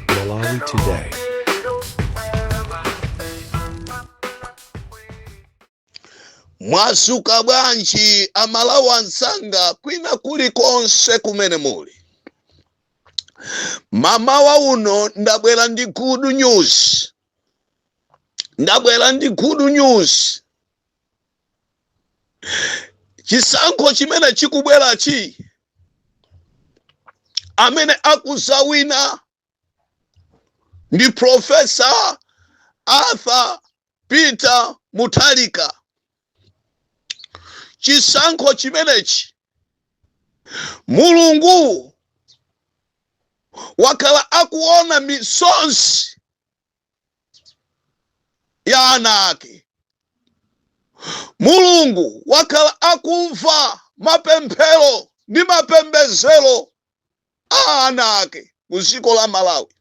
Malawi Today. mwadzuka bwanji amalawi anzanga kwina kulikonse kumene muli mamawa uno ndabwera ndi good news chisankho chimene chikubwerachi amene akuzawina ndi profesa arthur peter mutharika chisankho chimenechi mulungu wakhala akuona misozi ya ana ake mulungu wakhala akumva mapemphero ndi mapembezero a ana ake ku dziko la malawi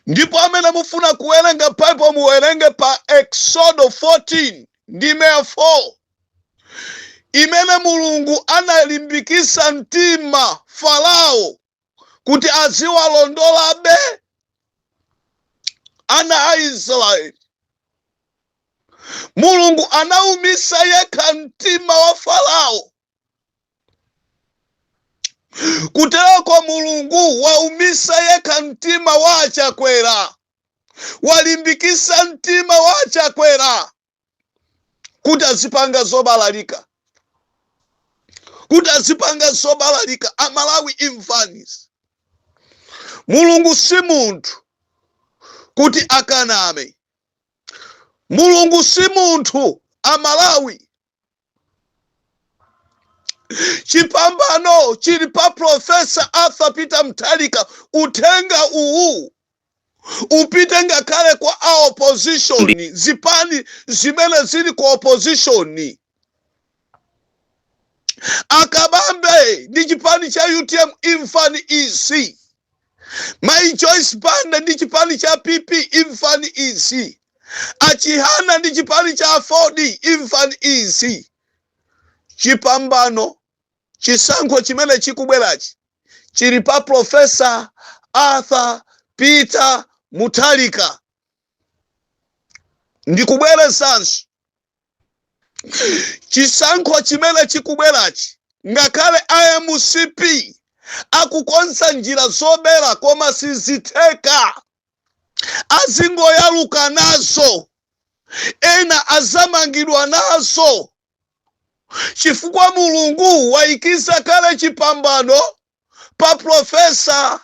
ndipo amene mufuna kuwerenga bible muwerenge pa exodo 14 ndime ya 4 imene mulungu analimbikisa mtima farao kuti aziwalondolabe ana a israeli mulungu anaumitsa yekha mtima wa farao kutereko mulungu waumitsa yekha mtima wa achakwera walimbikitsa mtima wa achakwera kuti azipanga zobalalika kuti azipanga zobalalika amalawi imvani izi mulungu si munthu kuti akaname mulungu si munthu amalawi chipambano chili pa profesa arthur peter mutharika uthenga uwu upite ngakhale kwa a opposition zipani zimene zili ku opposition a kabambe ndi chipani cha utm imvani izi Mai Joyce Banda ndi chipani cha PP imvani izi. A Chihana ndi chipani cha aford imvani izi. Chipambano chisankho chimene chikubwerachi chili pa Professor Arthur Peter Mutharika. Ndikubwerezanso chisankho chimene chikubwerachi ngakhale a mcp akukonza njira zobera koma sizitheka azingoyaluka nazo ena azamangidwa nazo chifukwa mulungu wayikiratu kale chipambano pa Profesa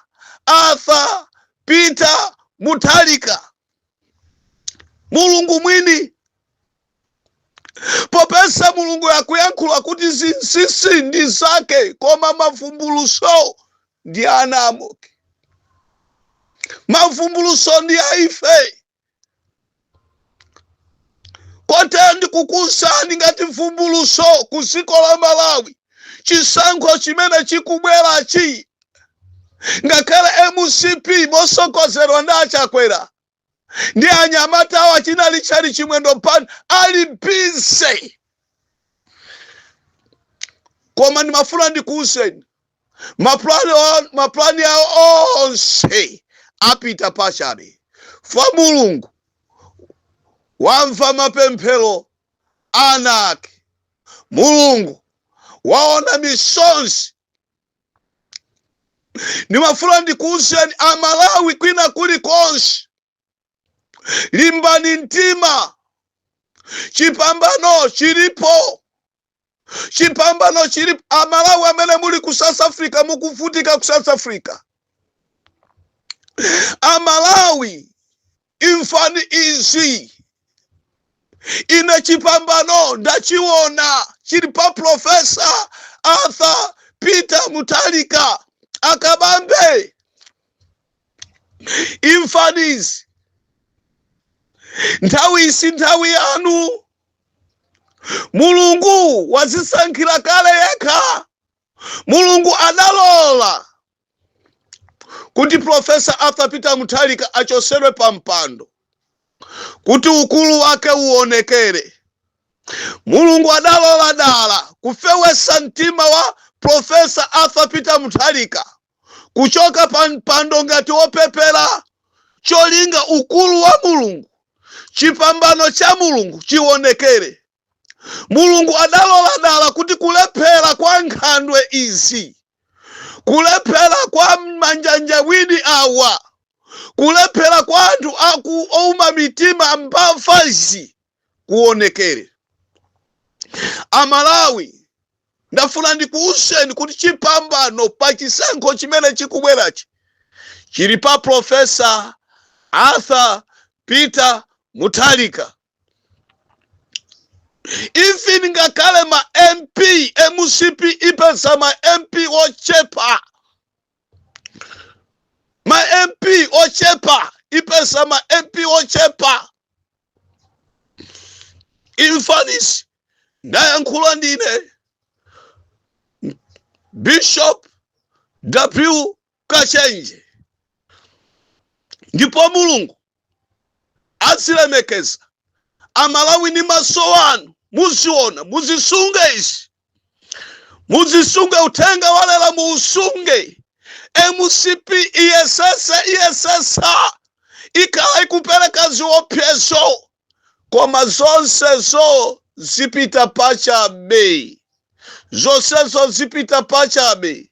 Arthur Peter Mutharika. Mulungu mwini popeza Mulungu akuyankhula kuti zinsinsi ndi zake koma mavumbuluso ndi ana amoke. Mavumbuluso ndi a ife kotero ndikukuwuzani ngati vumbuluso ku dziko la malawi chisankho chimene chikubwerachi ngakhale mcp mosogozedwa ndi achakwera ndi anyamata awo achina richard chimwendo pano ali busy koma ndimafuna ndikuwuzeni mapulani awo onse apita pachabe fa mulungu wamva mapemphero ana ake mulungu waona misonzi ndimafuna ndikuuzeni amalawi kwina kuli konse limbani mtima chipambano chilipo chipambano chilipo amalawi amene muli ku south africa mukuvutika ku south africa amalawi imvani izi ine chipambano ndachiona chili pa profesa arthur peter mutharika akabambe imvani izi nthawi iyi si nthawi yanu mulungu wazisankhira kale yekha mulungu adalola kuti profesa arthur peter mutharika achosedwe pa mpando kuti ukulu wake uonekere mulungu adalola dala kufewesa mtima wa profesa arthur peter mutharika kuchoka pa mpando ngati wopepera cholinga ukulu wa mulungu chipambano cha mulungu chiwonekere mulungu adalola dala kuti kulephera kwa nkhandwe izi kulephera kwa manjanjawidi awa kulephera kwa anthu aku ouma mitima mbavazi kuonekere amalawi ndafuna ndikuwuzeni kuti chipambano pa chisankho chimene chikubwerachi chili pa profesa arthur peter mutharika even ngakhale ma mp mcp ipeza ma mp ochepa ma mp ochepa ipesa ma mp ochepa in Paris ndayankhula ndine bishop w kachenje ndipo mulungu azilemekeza a Malawi ndi maso anu muziona muzisunge izi muzisunge uthenga walero muusunge mcp iyesesa iyesesa ikhala ikupereka ziopsezo koma zonsezo zipita pachabe zonsezo zipita pachabe